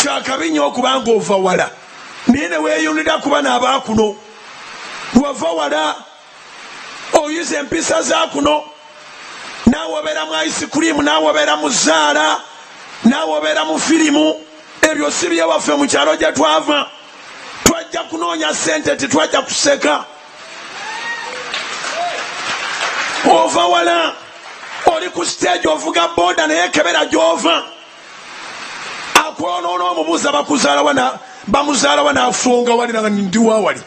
kyakabi nyo okuba nga ova wala naye neweyunira kuba nabakuno wava wala oyiza empisa zakuno naawe obeera mu ice cream naawe obeera mu zaala naawe obeera mu firimu ebyo si byewaffe mu kyalo gye twava twajja kunoonya sente titwajja kuseka ova wala oli ku siteegi ovuga boda naye kebera gyova akwonoona omubuuza bakuzaalawa bamuzaalawa n'afunga wali nanga ndiwa wali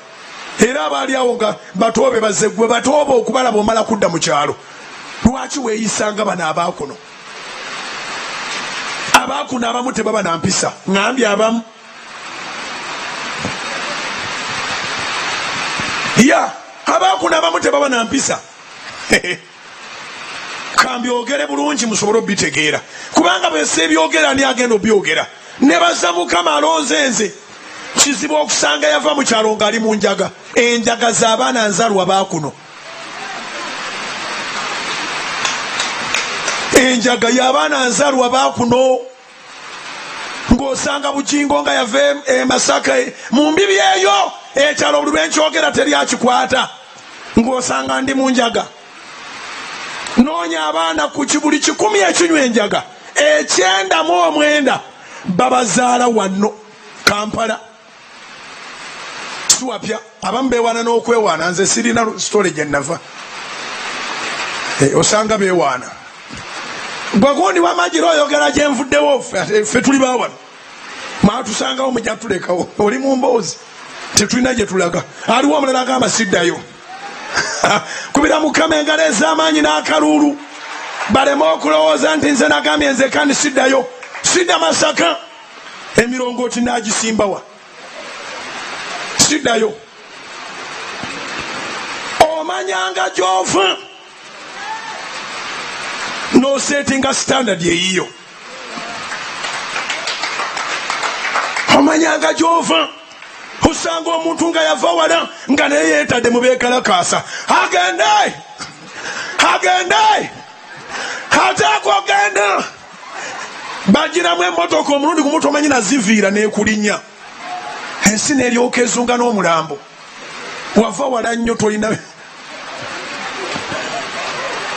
era abaali awo nga batoobe baze gwe batooba okubalaba omala kudda mu kyalo lwaki weeyisanga bano abaakuno abaakuno abamu tebaba na mpisa ngambye abamu ya abaakuno abamu tebaba na mpisa kambyogere bulungi musobole obitegeera kubanga bwese ebyogera ani agenda obyogera nebaza mukama alonze nze kizibu okusanga yava mu kyalo ngaali mu njaga enjaga z'abaana nzalwa baakuno enjaga y'abaana nzalwa baakuno ng'osanga bujingo nga yava e masaka e, mu mbibi eyo ekyalo buli lwenkyogera teri akikwata ng'osanga ndi mu njaga noonya abaana ku kibuli kikumi ekinywa enjaga ekyenda mu omwenda babazaala wanno kampala siwapya abamu bewaana n'okwewaana nze sirina sitole gye nava eh, osanga bewaana gwagundi wamajira oyogera gyenvuddewo ffe tuli bawano mwatusangawo mujatulekawo oli mu mboozi tetulina gye tulaga aliwo omulala agamba siddayo kubira mukama engalo ez'amaanyi n'akaluulu baleme okulowooza nti nze nagambye nze kandi siddayo sidda masaka emirongooti n'agisimbawa sidayo omanyanga gy'ova n'oseetinga standard eyiyo omanyanga gy'ova osanga omuntu nga yava wala nga naye yeetadde mu beekalakaasa agende agende ate akugenda bagiramu emotoka omulundi gumu tomanyi naziviira nekulinya ensi neryoka ezunga n'omulambo wava wala nnyo tolina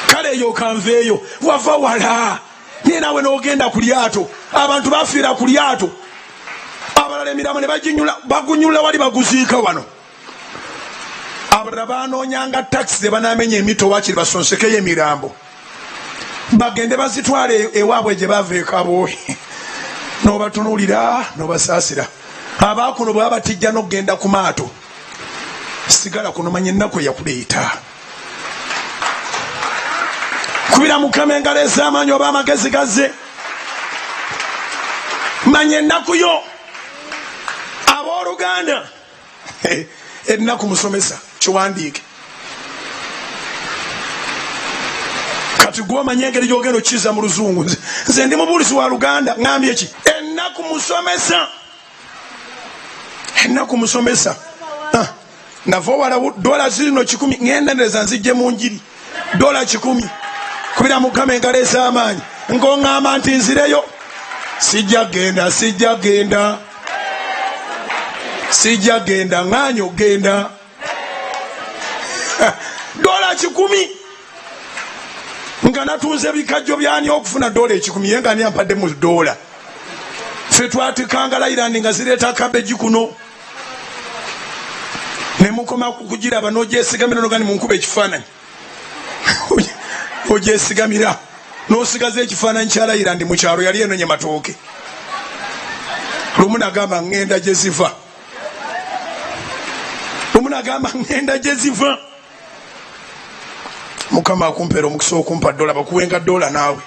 kale eyo kanveeyo wava wala naye naawe n'ogenda ku lyato abantu bafiira ku lyato abalala emirambo ne baginyula bagunyulula wali baguziika wano abalala banoonyanga takisi ze banamenya emito wakiri basonsekeyo emirambo bagende bazitwala e-, ewaabwe gye bava ekaboohi nobatunulira nobasaasira abaakuno bwe babatijja n'okugenda ku maato sigala kuno manya ennaku eyakuleeta kubira mukama engalo ez'amaanyi oba amagezi gazze manya ennaku yo abooluganda ennaku musomesa kiwandiike kati gwe omanya engeri gyogenda okiza mu luzungu nze ndi mubuulizi wa luganda ŋambye ki ennaku musomesa ennaku musomesa ah, nava owala dola zirino kikumi ŋendereza nzijje mu njiri dola kikumi kubira mukama engalo ez'amaanyi nkoŋŋamba nti nzireyo sijja genda sijja genda sijja genda ŋaanyi ogenda dola kikumi nga natunze bikajjo byani okufuna dola ekikumi ye nga ni ampadde mu dola fe twatikanga layirandi nga zireeta kabeji kuno ne mukoma kugiraba nogyesigamira noga ni munkuba ekifaananyi ogyesigamira nosigaza ekifaananyi kyalayira ndi mukyalo yali enonye matooke lumu nagamba ŋŋenda gye ziva lumu nagamba ŋŋenda gye ziva mukama akumpeera omukisa okumpa dola bakuwenga dola naawe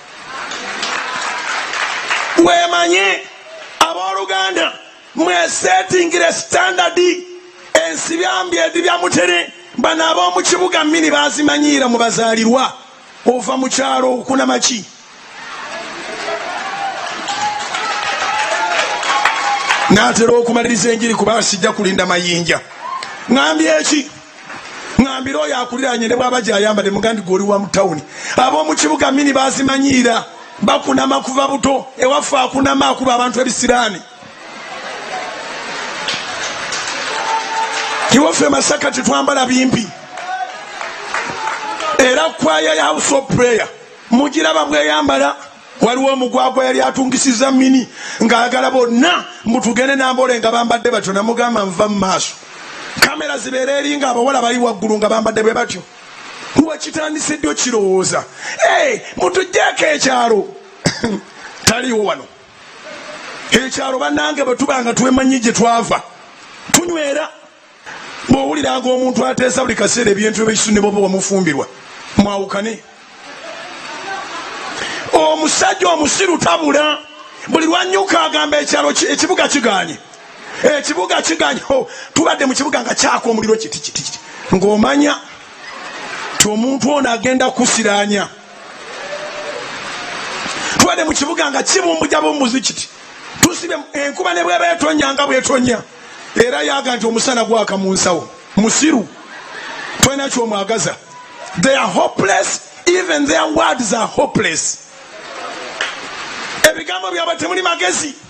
wemanye abooluganda mwesetingire standard ensi byambi edi bya mutere bano ab'omu kibuga mini bazimanyiira mu bazaalirwa ova mu kyalo okunamaki natera okumaliriza enjiri kuba sijja kulinda mayinja ŋambi eki ŋambira oyo akuliranye ne bwaba gyayambade mugandi gwe oli wa mu tawuni ab'omu kibuga mini bazimanyiira bakunama kuva buto ewaffe akunama akuba abantu ebisiraani tiwaffe masaka tetwambala bimpi era kwaya ya house of prayer mugiraba bweyambala waliwo omugwagwa yali atungisiza mini ng'ayagala bonna mutugende nambole nga bambadde batyo namugamba nva mu maaso kamera zibeera eri nga abawala bali waggulu nga bambadde bwe batyo wekitandise ddi okirowooza mutujjeeko ekyalo taliwo wano ekyalo banange bwetuba nga twemanyi gye twava tunywera bwowuliranga omuntu ateesa buli kaseera ebintu ebisu ne bwoba wamufumbirwa mwawukane omusajja omusiru tabula buli lwanyuka agamba ekyalo ekibuga kiganye ekibuga kiganye oh, tubadde mu kibuga nga kyaka omuliro kitikitiki ng'omanya ti omuntu ono agenda kusiranya tubadde mu kibuga nga kibumbuja bumbuzi kiti tusibe enkuba ne bweba etonya nga bwetonya era yaga nti omusana gwaka mu nsawo musiru tolina kyomwagaza they are hopeless even their words are hopeless ebigambo byabwe temuli magezi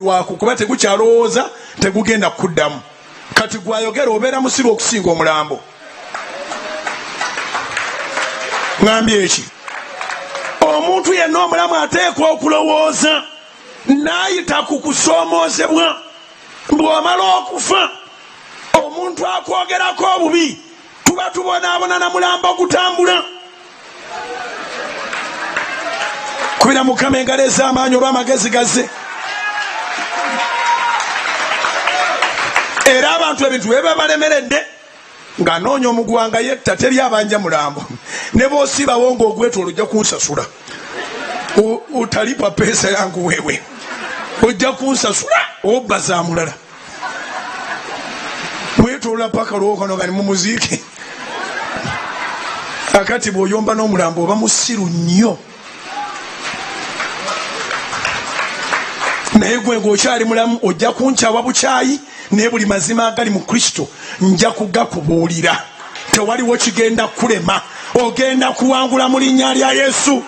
waku kuba tegukyalowooza tegugenda kuddamu kati gwayogera obeera musiru okusinga omulambo ŋambye eki omuntu yenna omulamu ateekwa okulowooza naayita ku kusoomoozebwa bw'omala okufa omuntu akwogerako obubi tuba tubonaabona na mulamba ogutambula kubira mukama engalo ez'amaanyi oba amagezi gaze era abantu ebintu bye babalemeredde ng'anoonya omugwanga yetta teri abanja mulambo ne bosiibawo ng'ogweta olujja kunsasula otalipa peesa yangu wewe ojja kunsasula obba za mulala mwetolola paka lwokono nga nimumuziike akati bwoyomba n'omulambo oba musiru nnyo naye gwe ngaokyali mulamu ojja kunkyawa bukyayi naye buli mazima agali mu kristo nja kugakubuulira tewaliwo kigenda kulema ogenda kuwangula mu linnya lya yesu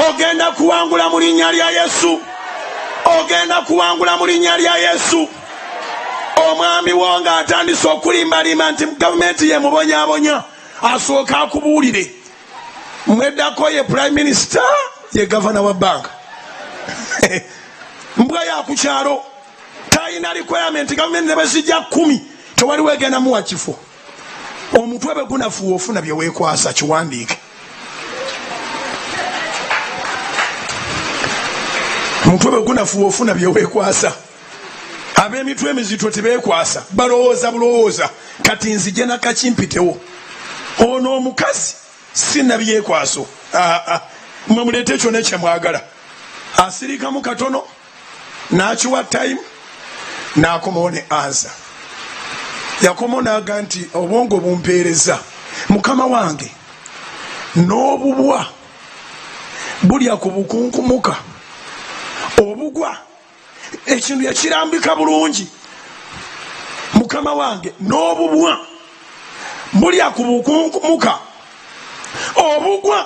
ogenda kuwangula mu linnya lya yesu ogenda kuwangula mu linnya lya yesu omwami wo nga atandise okulimbalimba nti gavumenti yemubonyabonya asooka akubuulire mweddako ye prime minister ye gavana wa banka mbwa yakukyalo talina requirement gavumenti nebezijja kumi tewaliwo egenda muwa kifo omutwe bwe gunafuwa ofuna bye weekwasa kiwandiike omutwe bwe gunafuwa ofuna bye weekwasa ab'emitwe emizito tebeekwasa balowooza bulowooza kati nzije nakakimpitewo ono omukazi sinabyekwaso ah, ah. mwe muleeta ekyona kyemwagala asirikamu katono nakiwa time nakomawo ne ansa yakomawo naga nti obwongo bumpeereza mukama wange n'obubwa bulya ku bukunkumuka obugwa ekintu yakirambika bulungi mukama wange n'obubwa bulya ku bukunkumuka obugwa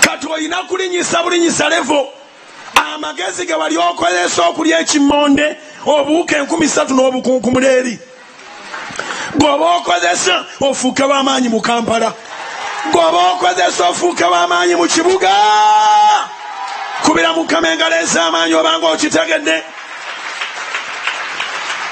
kati olina kulinyisa bulinyisa levo amagezi ge wali okozesa okulya ekimonde obuwuka enkumi satu n'obukunkumula eri gweoba okozesa ofuuke wamaanyi mu kampala gweoba okozesa ofuuke wamaanyi mu kibuga kubira mukama engalo ez'amaanyi obanga okitegedde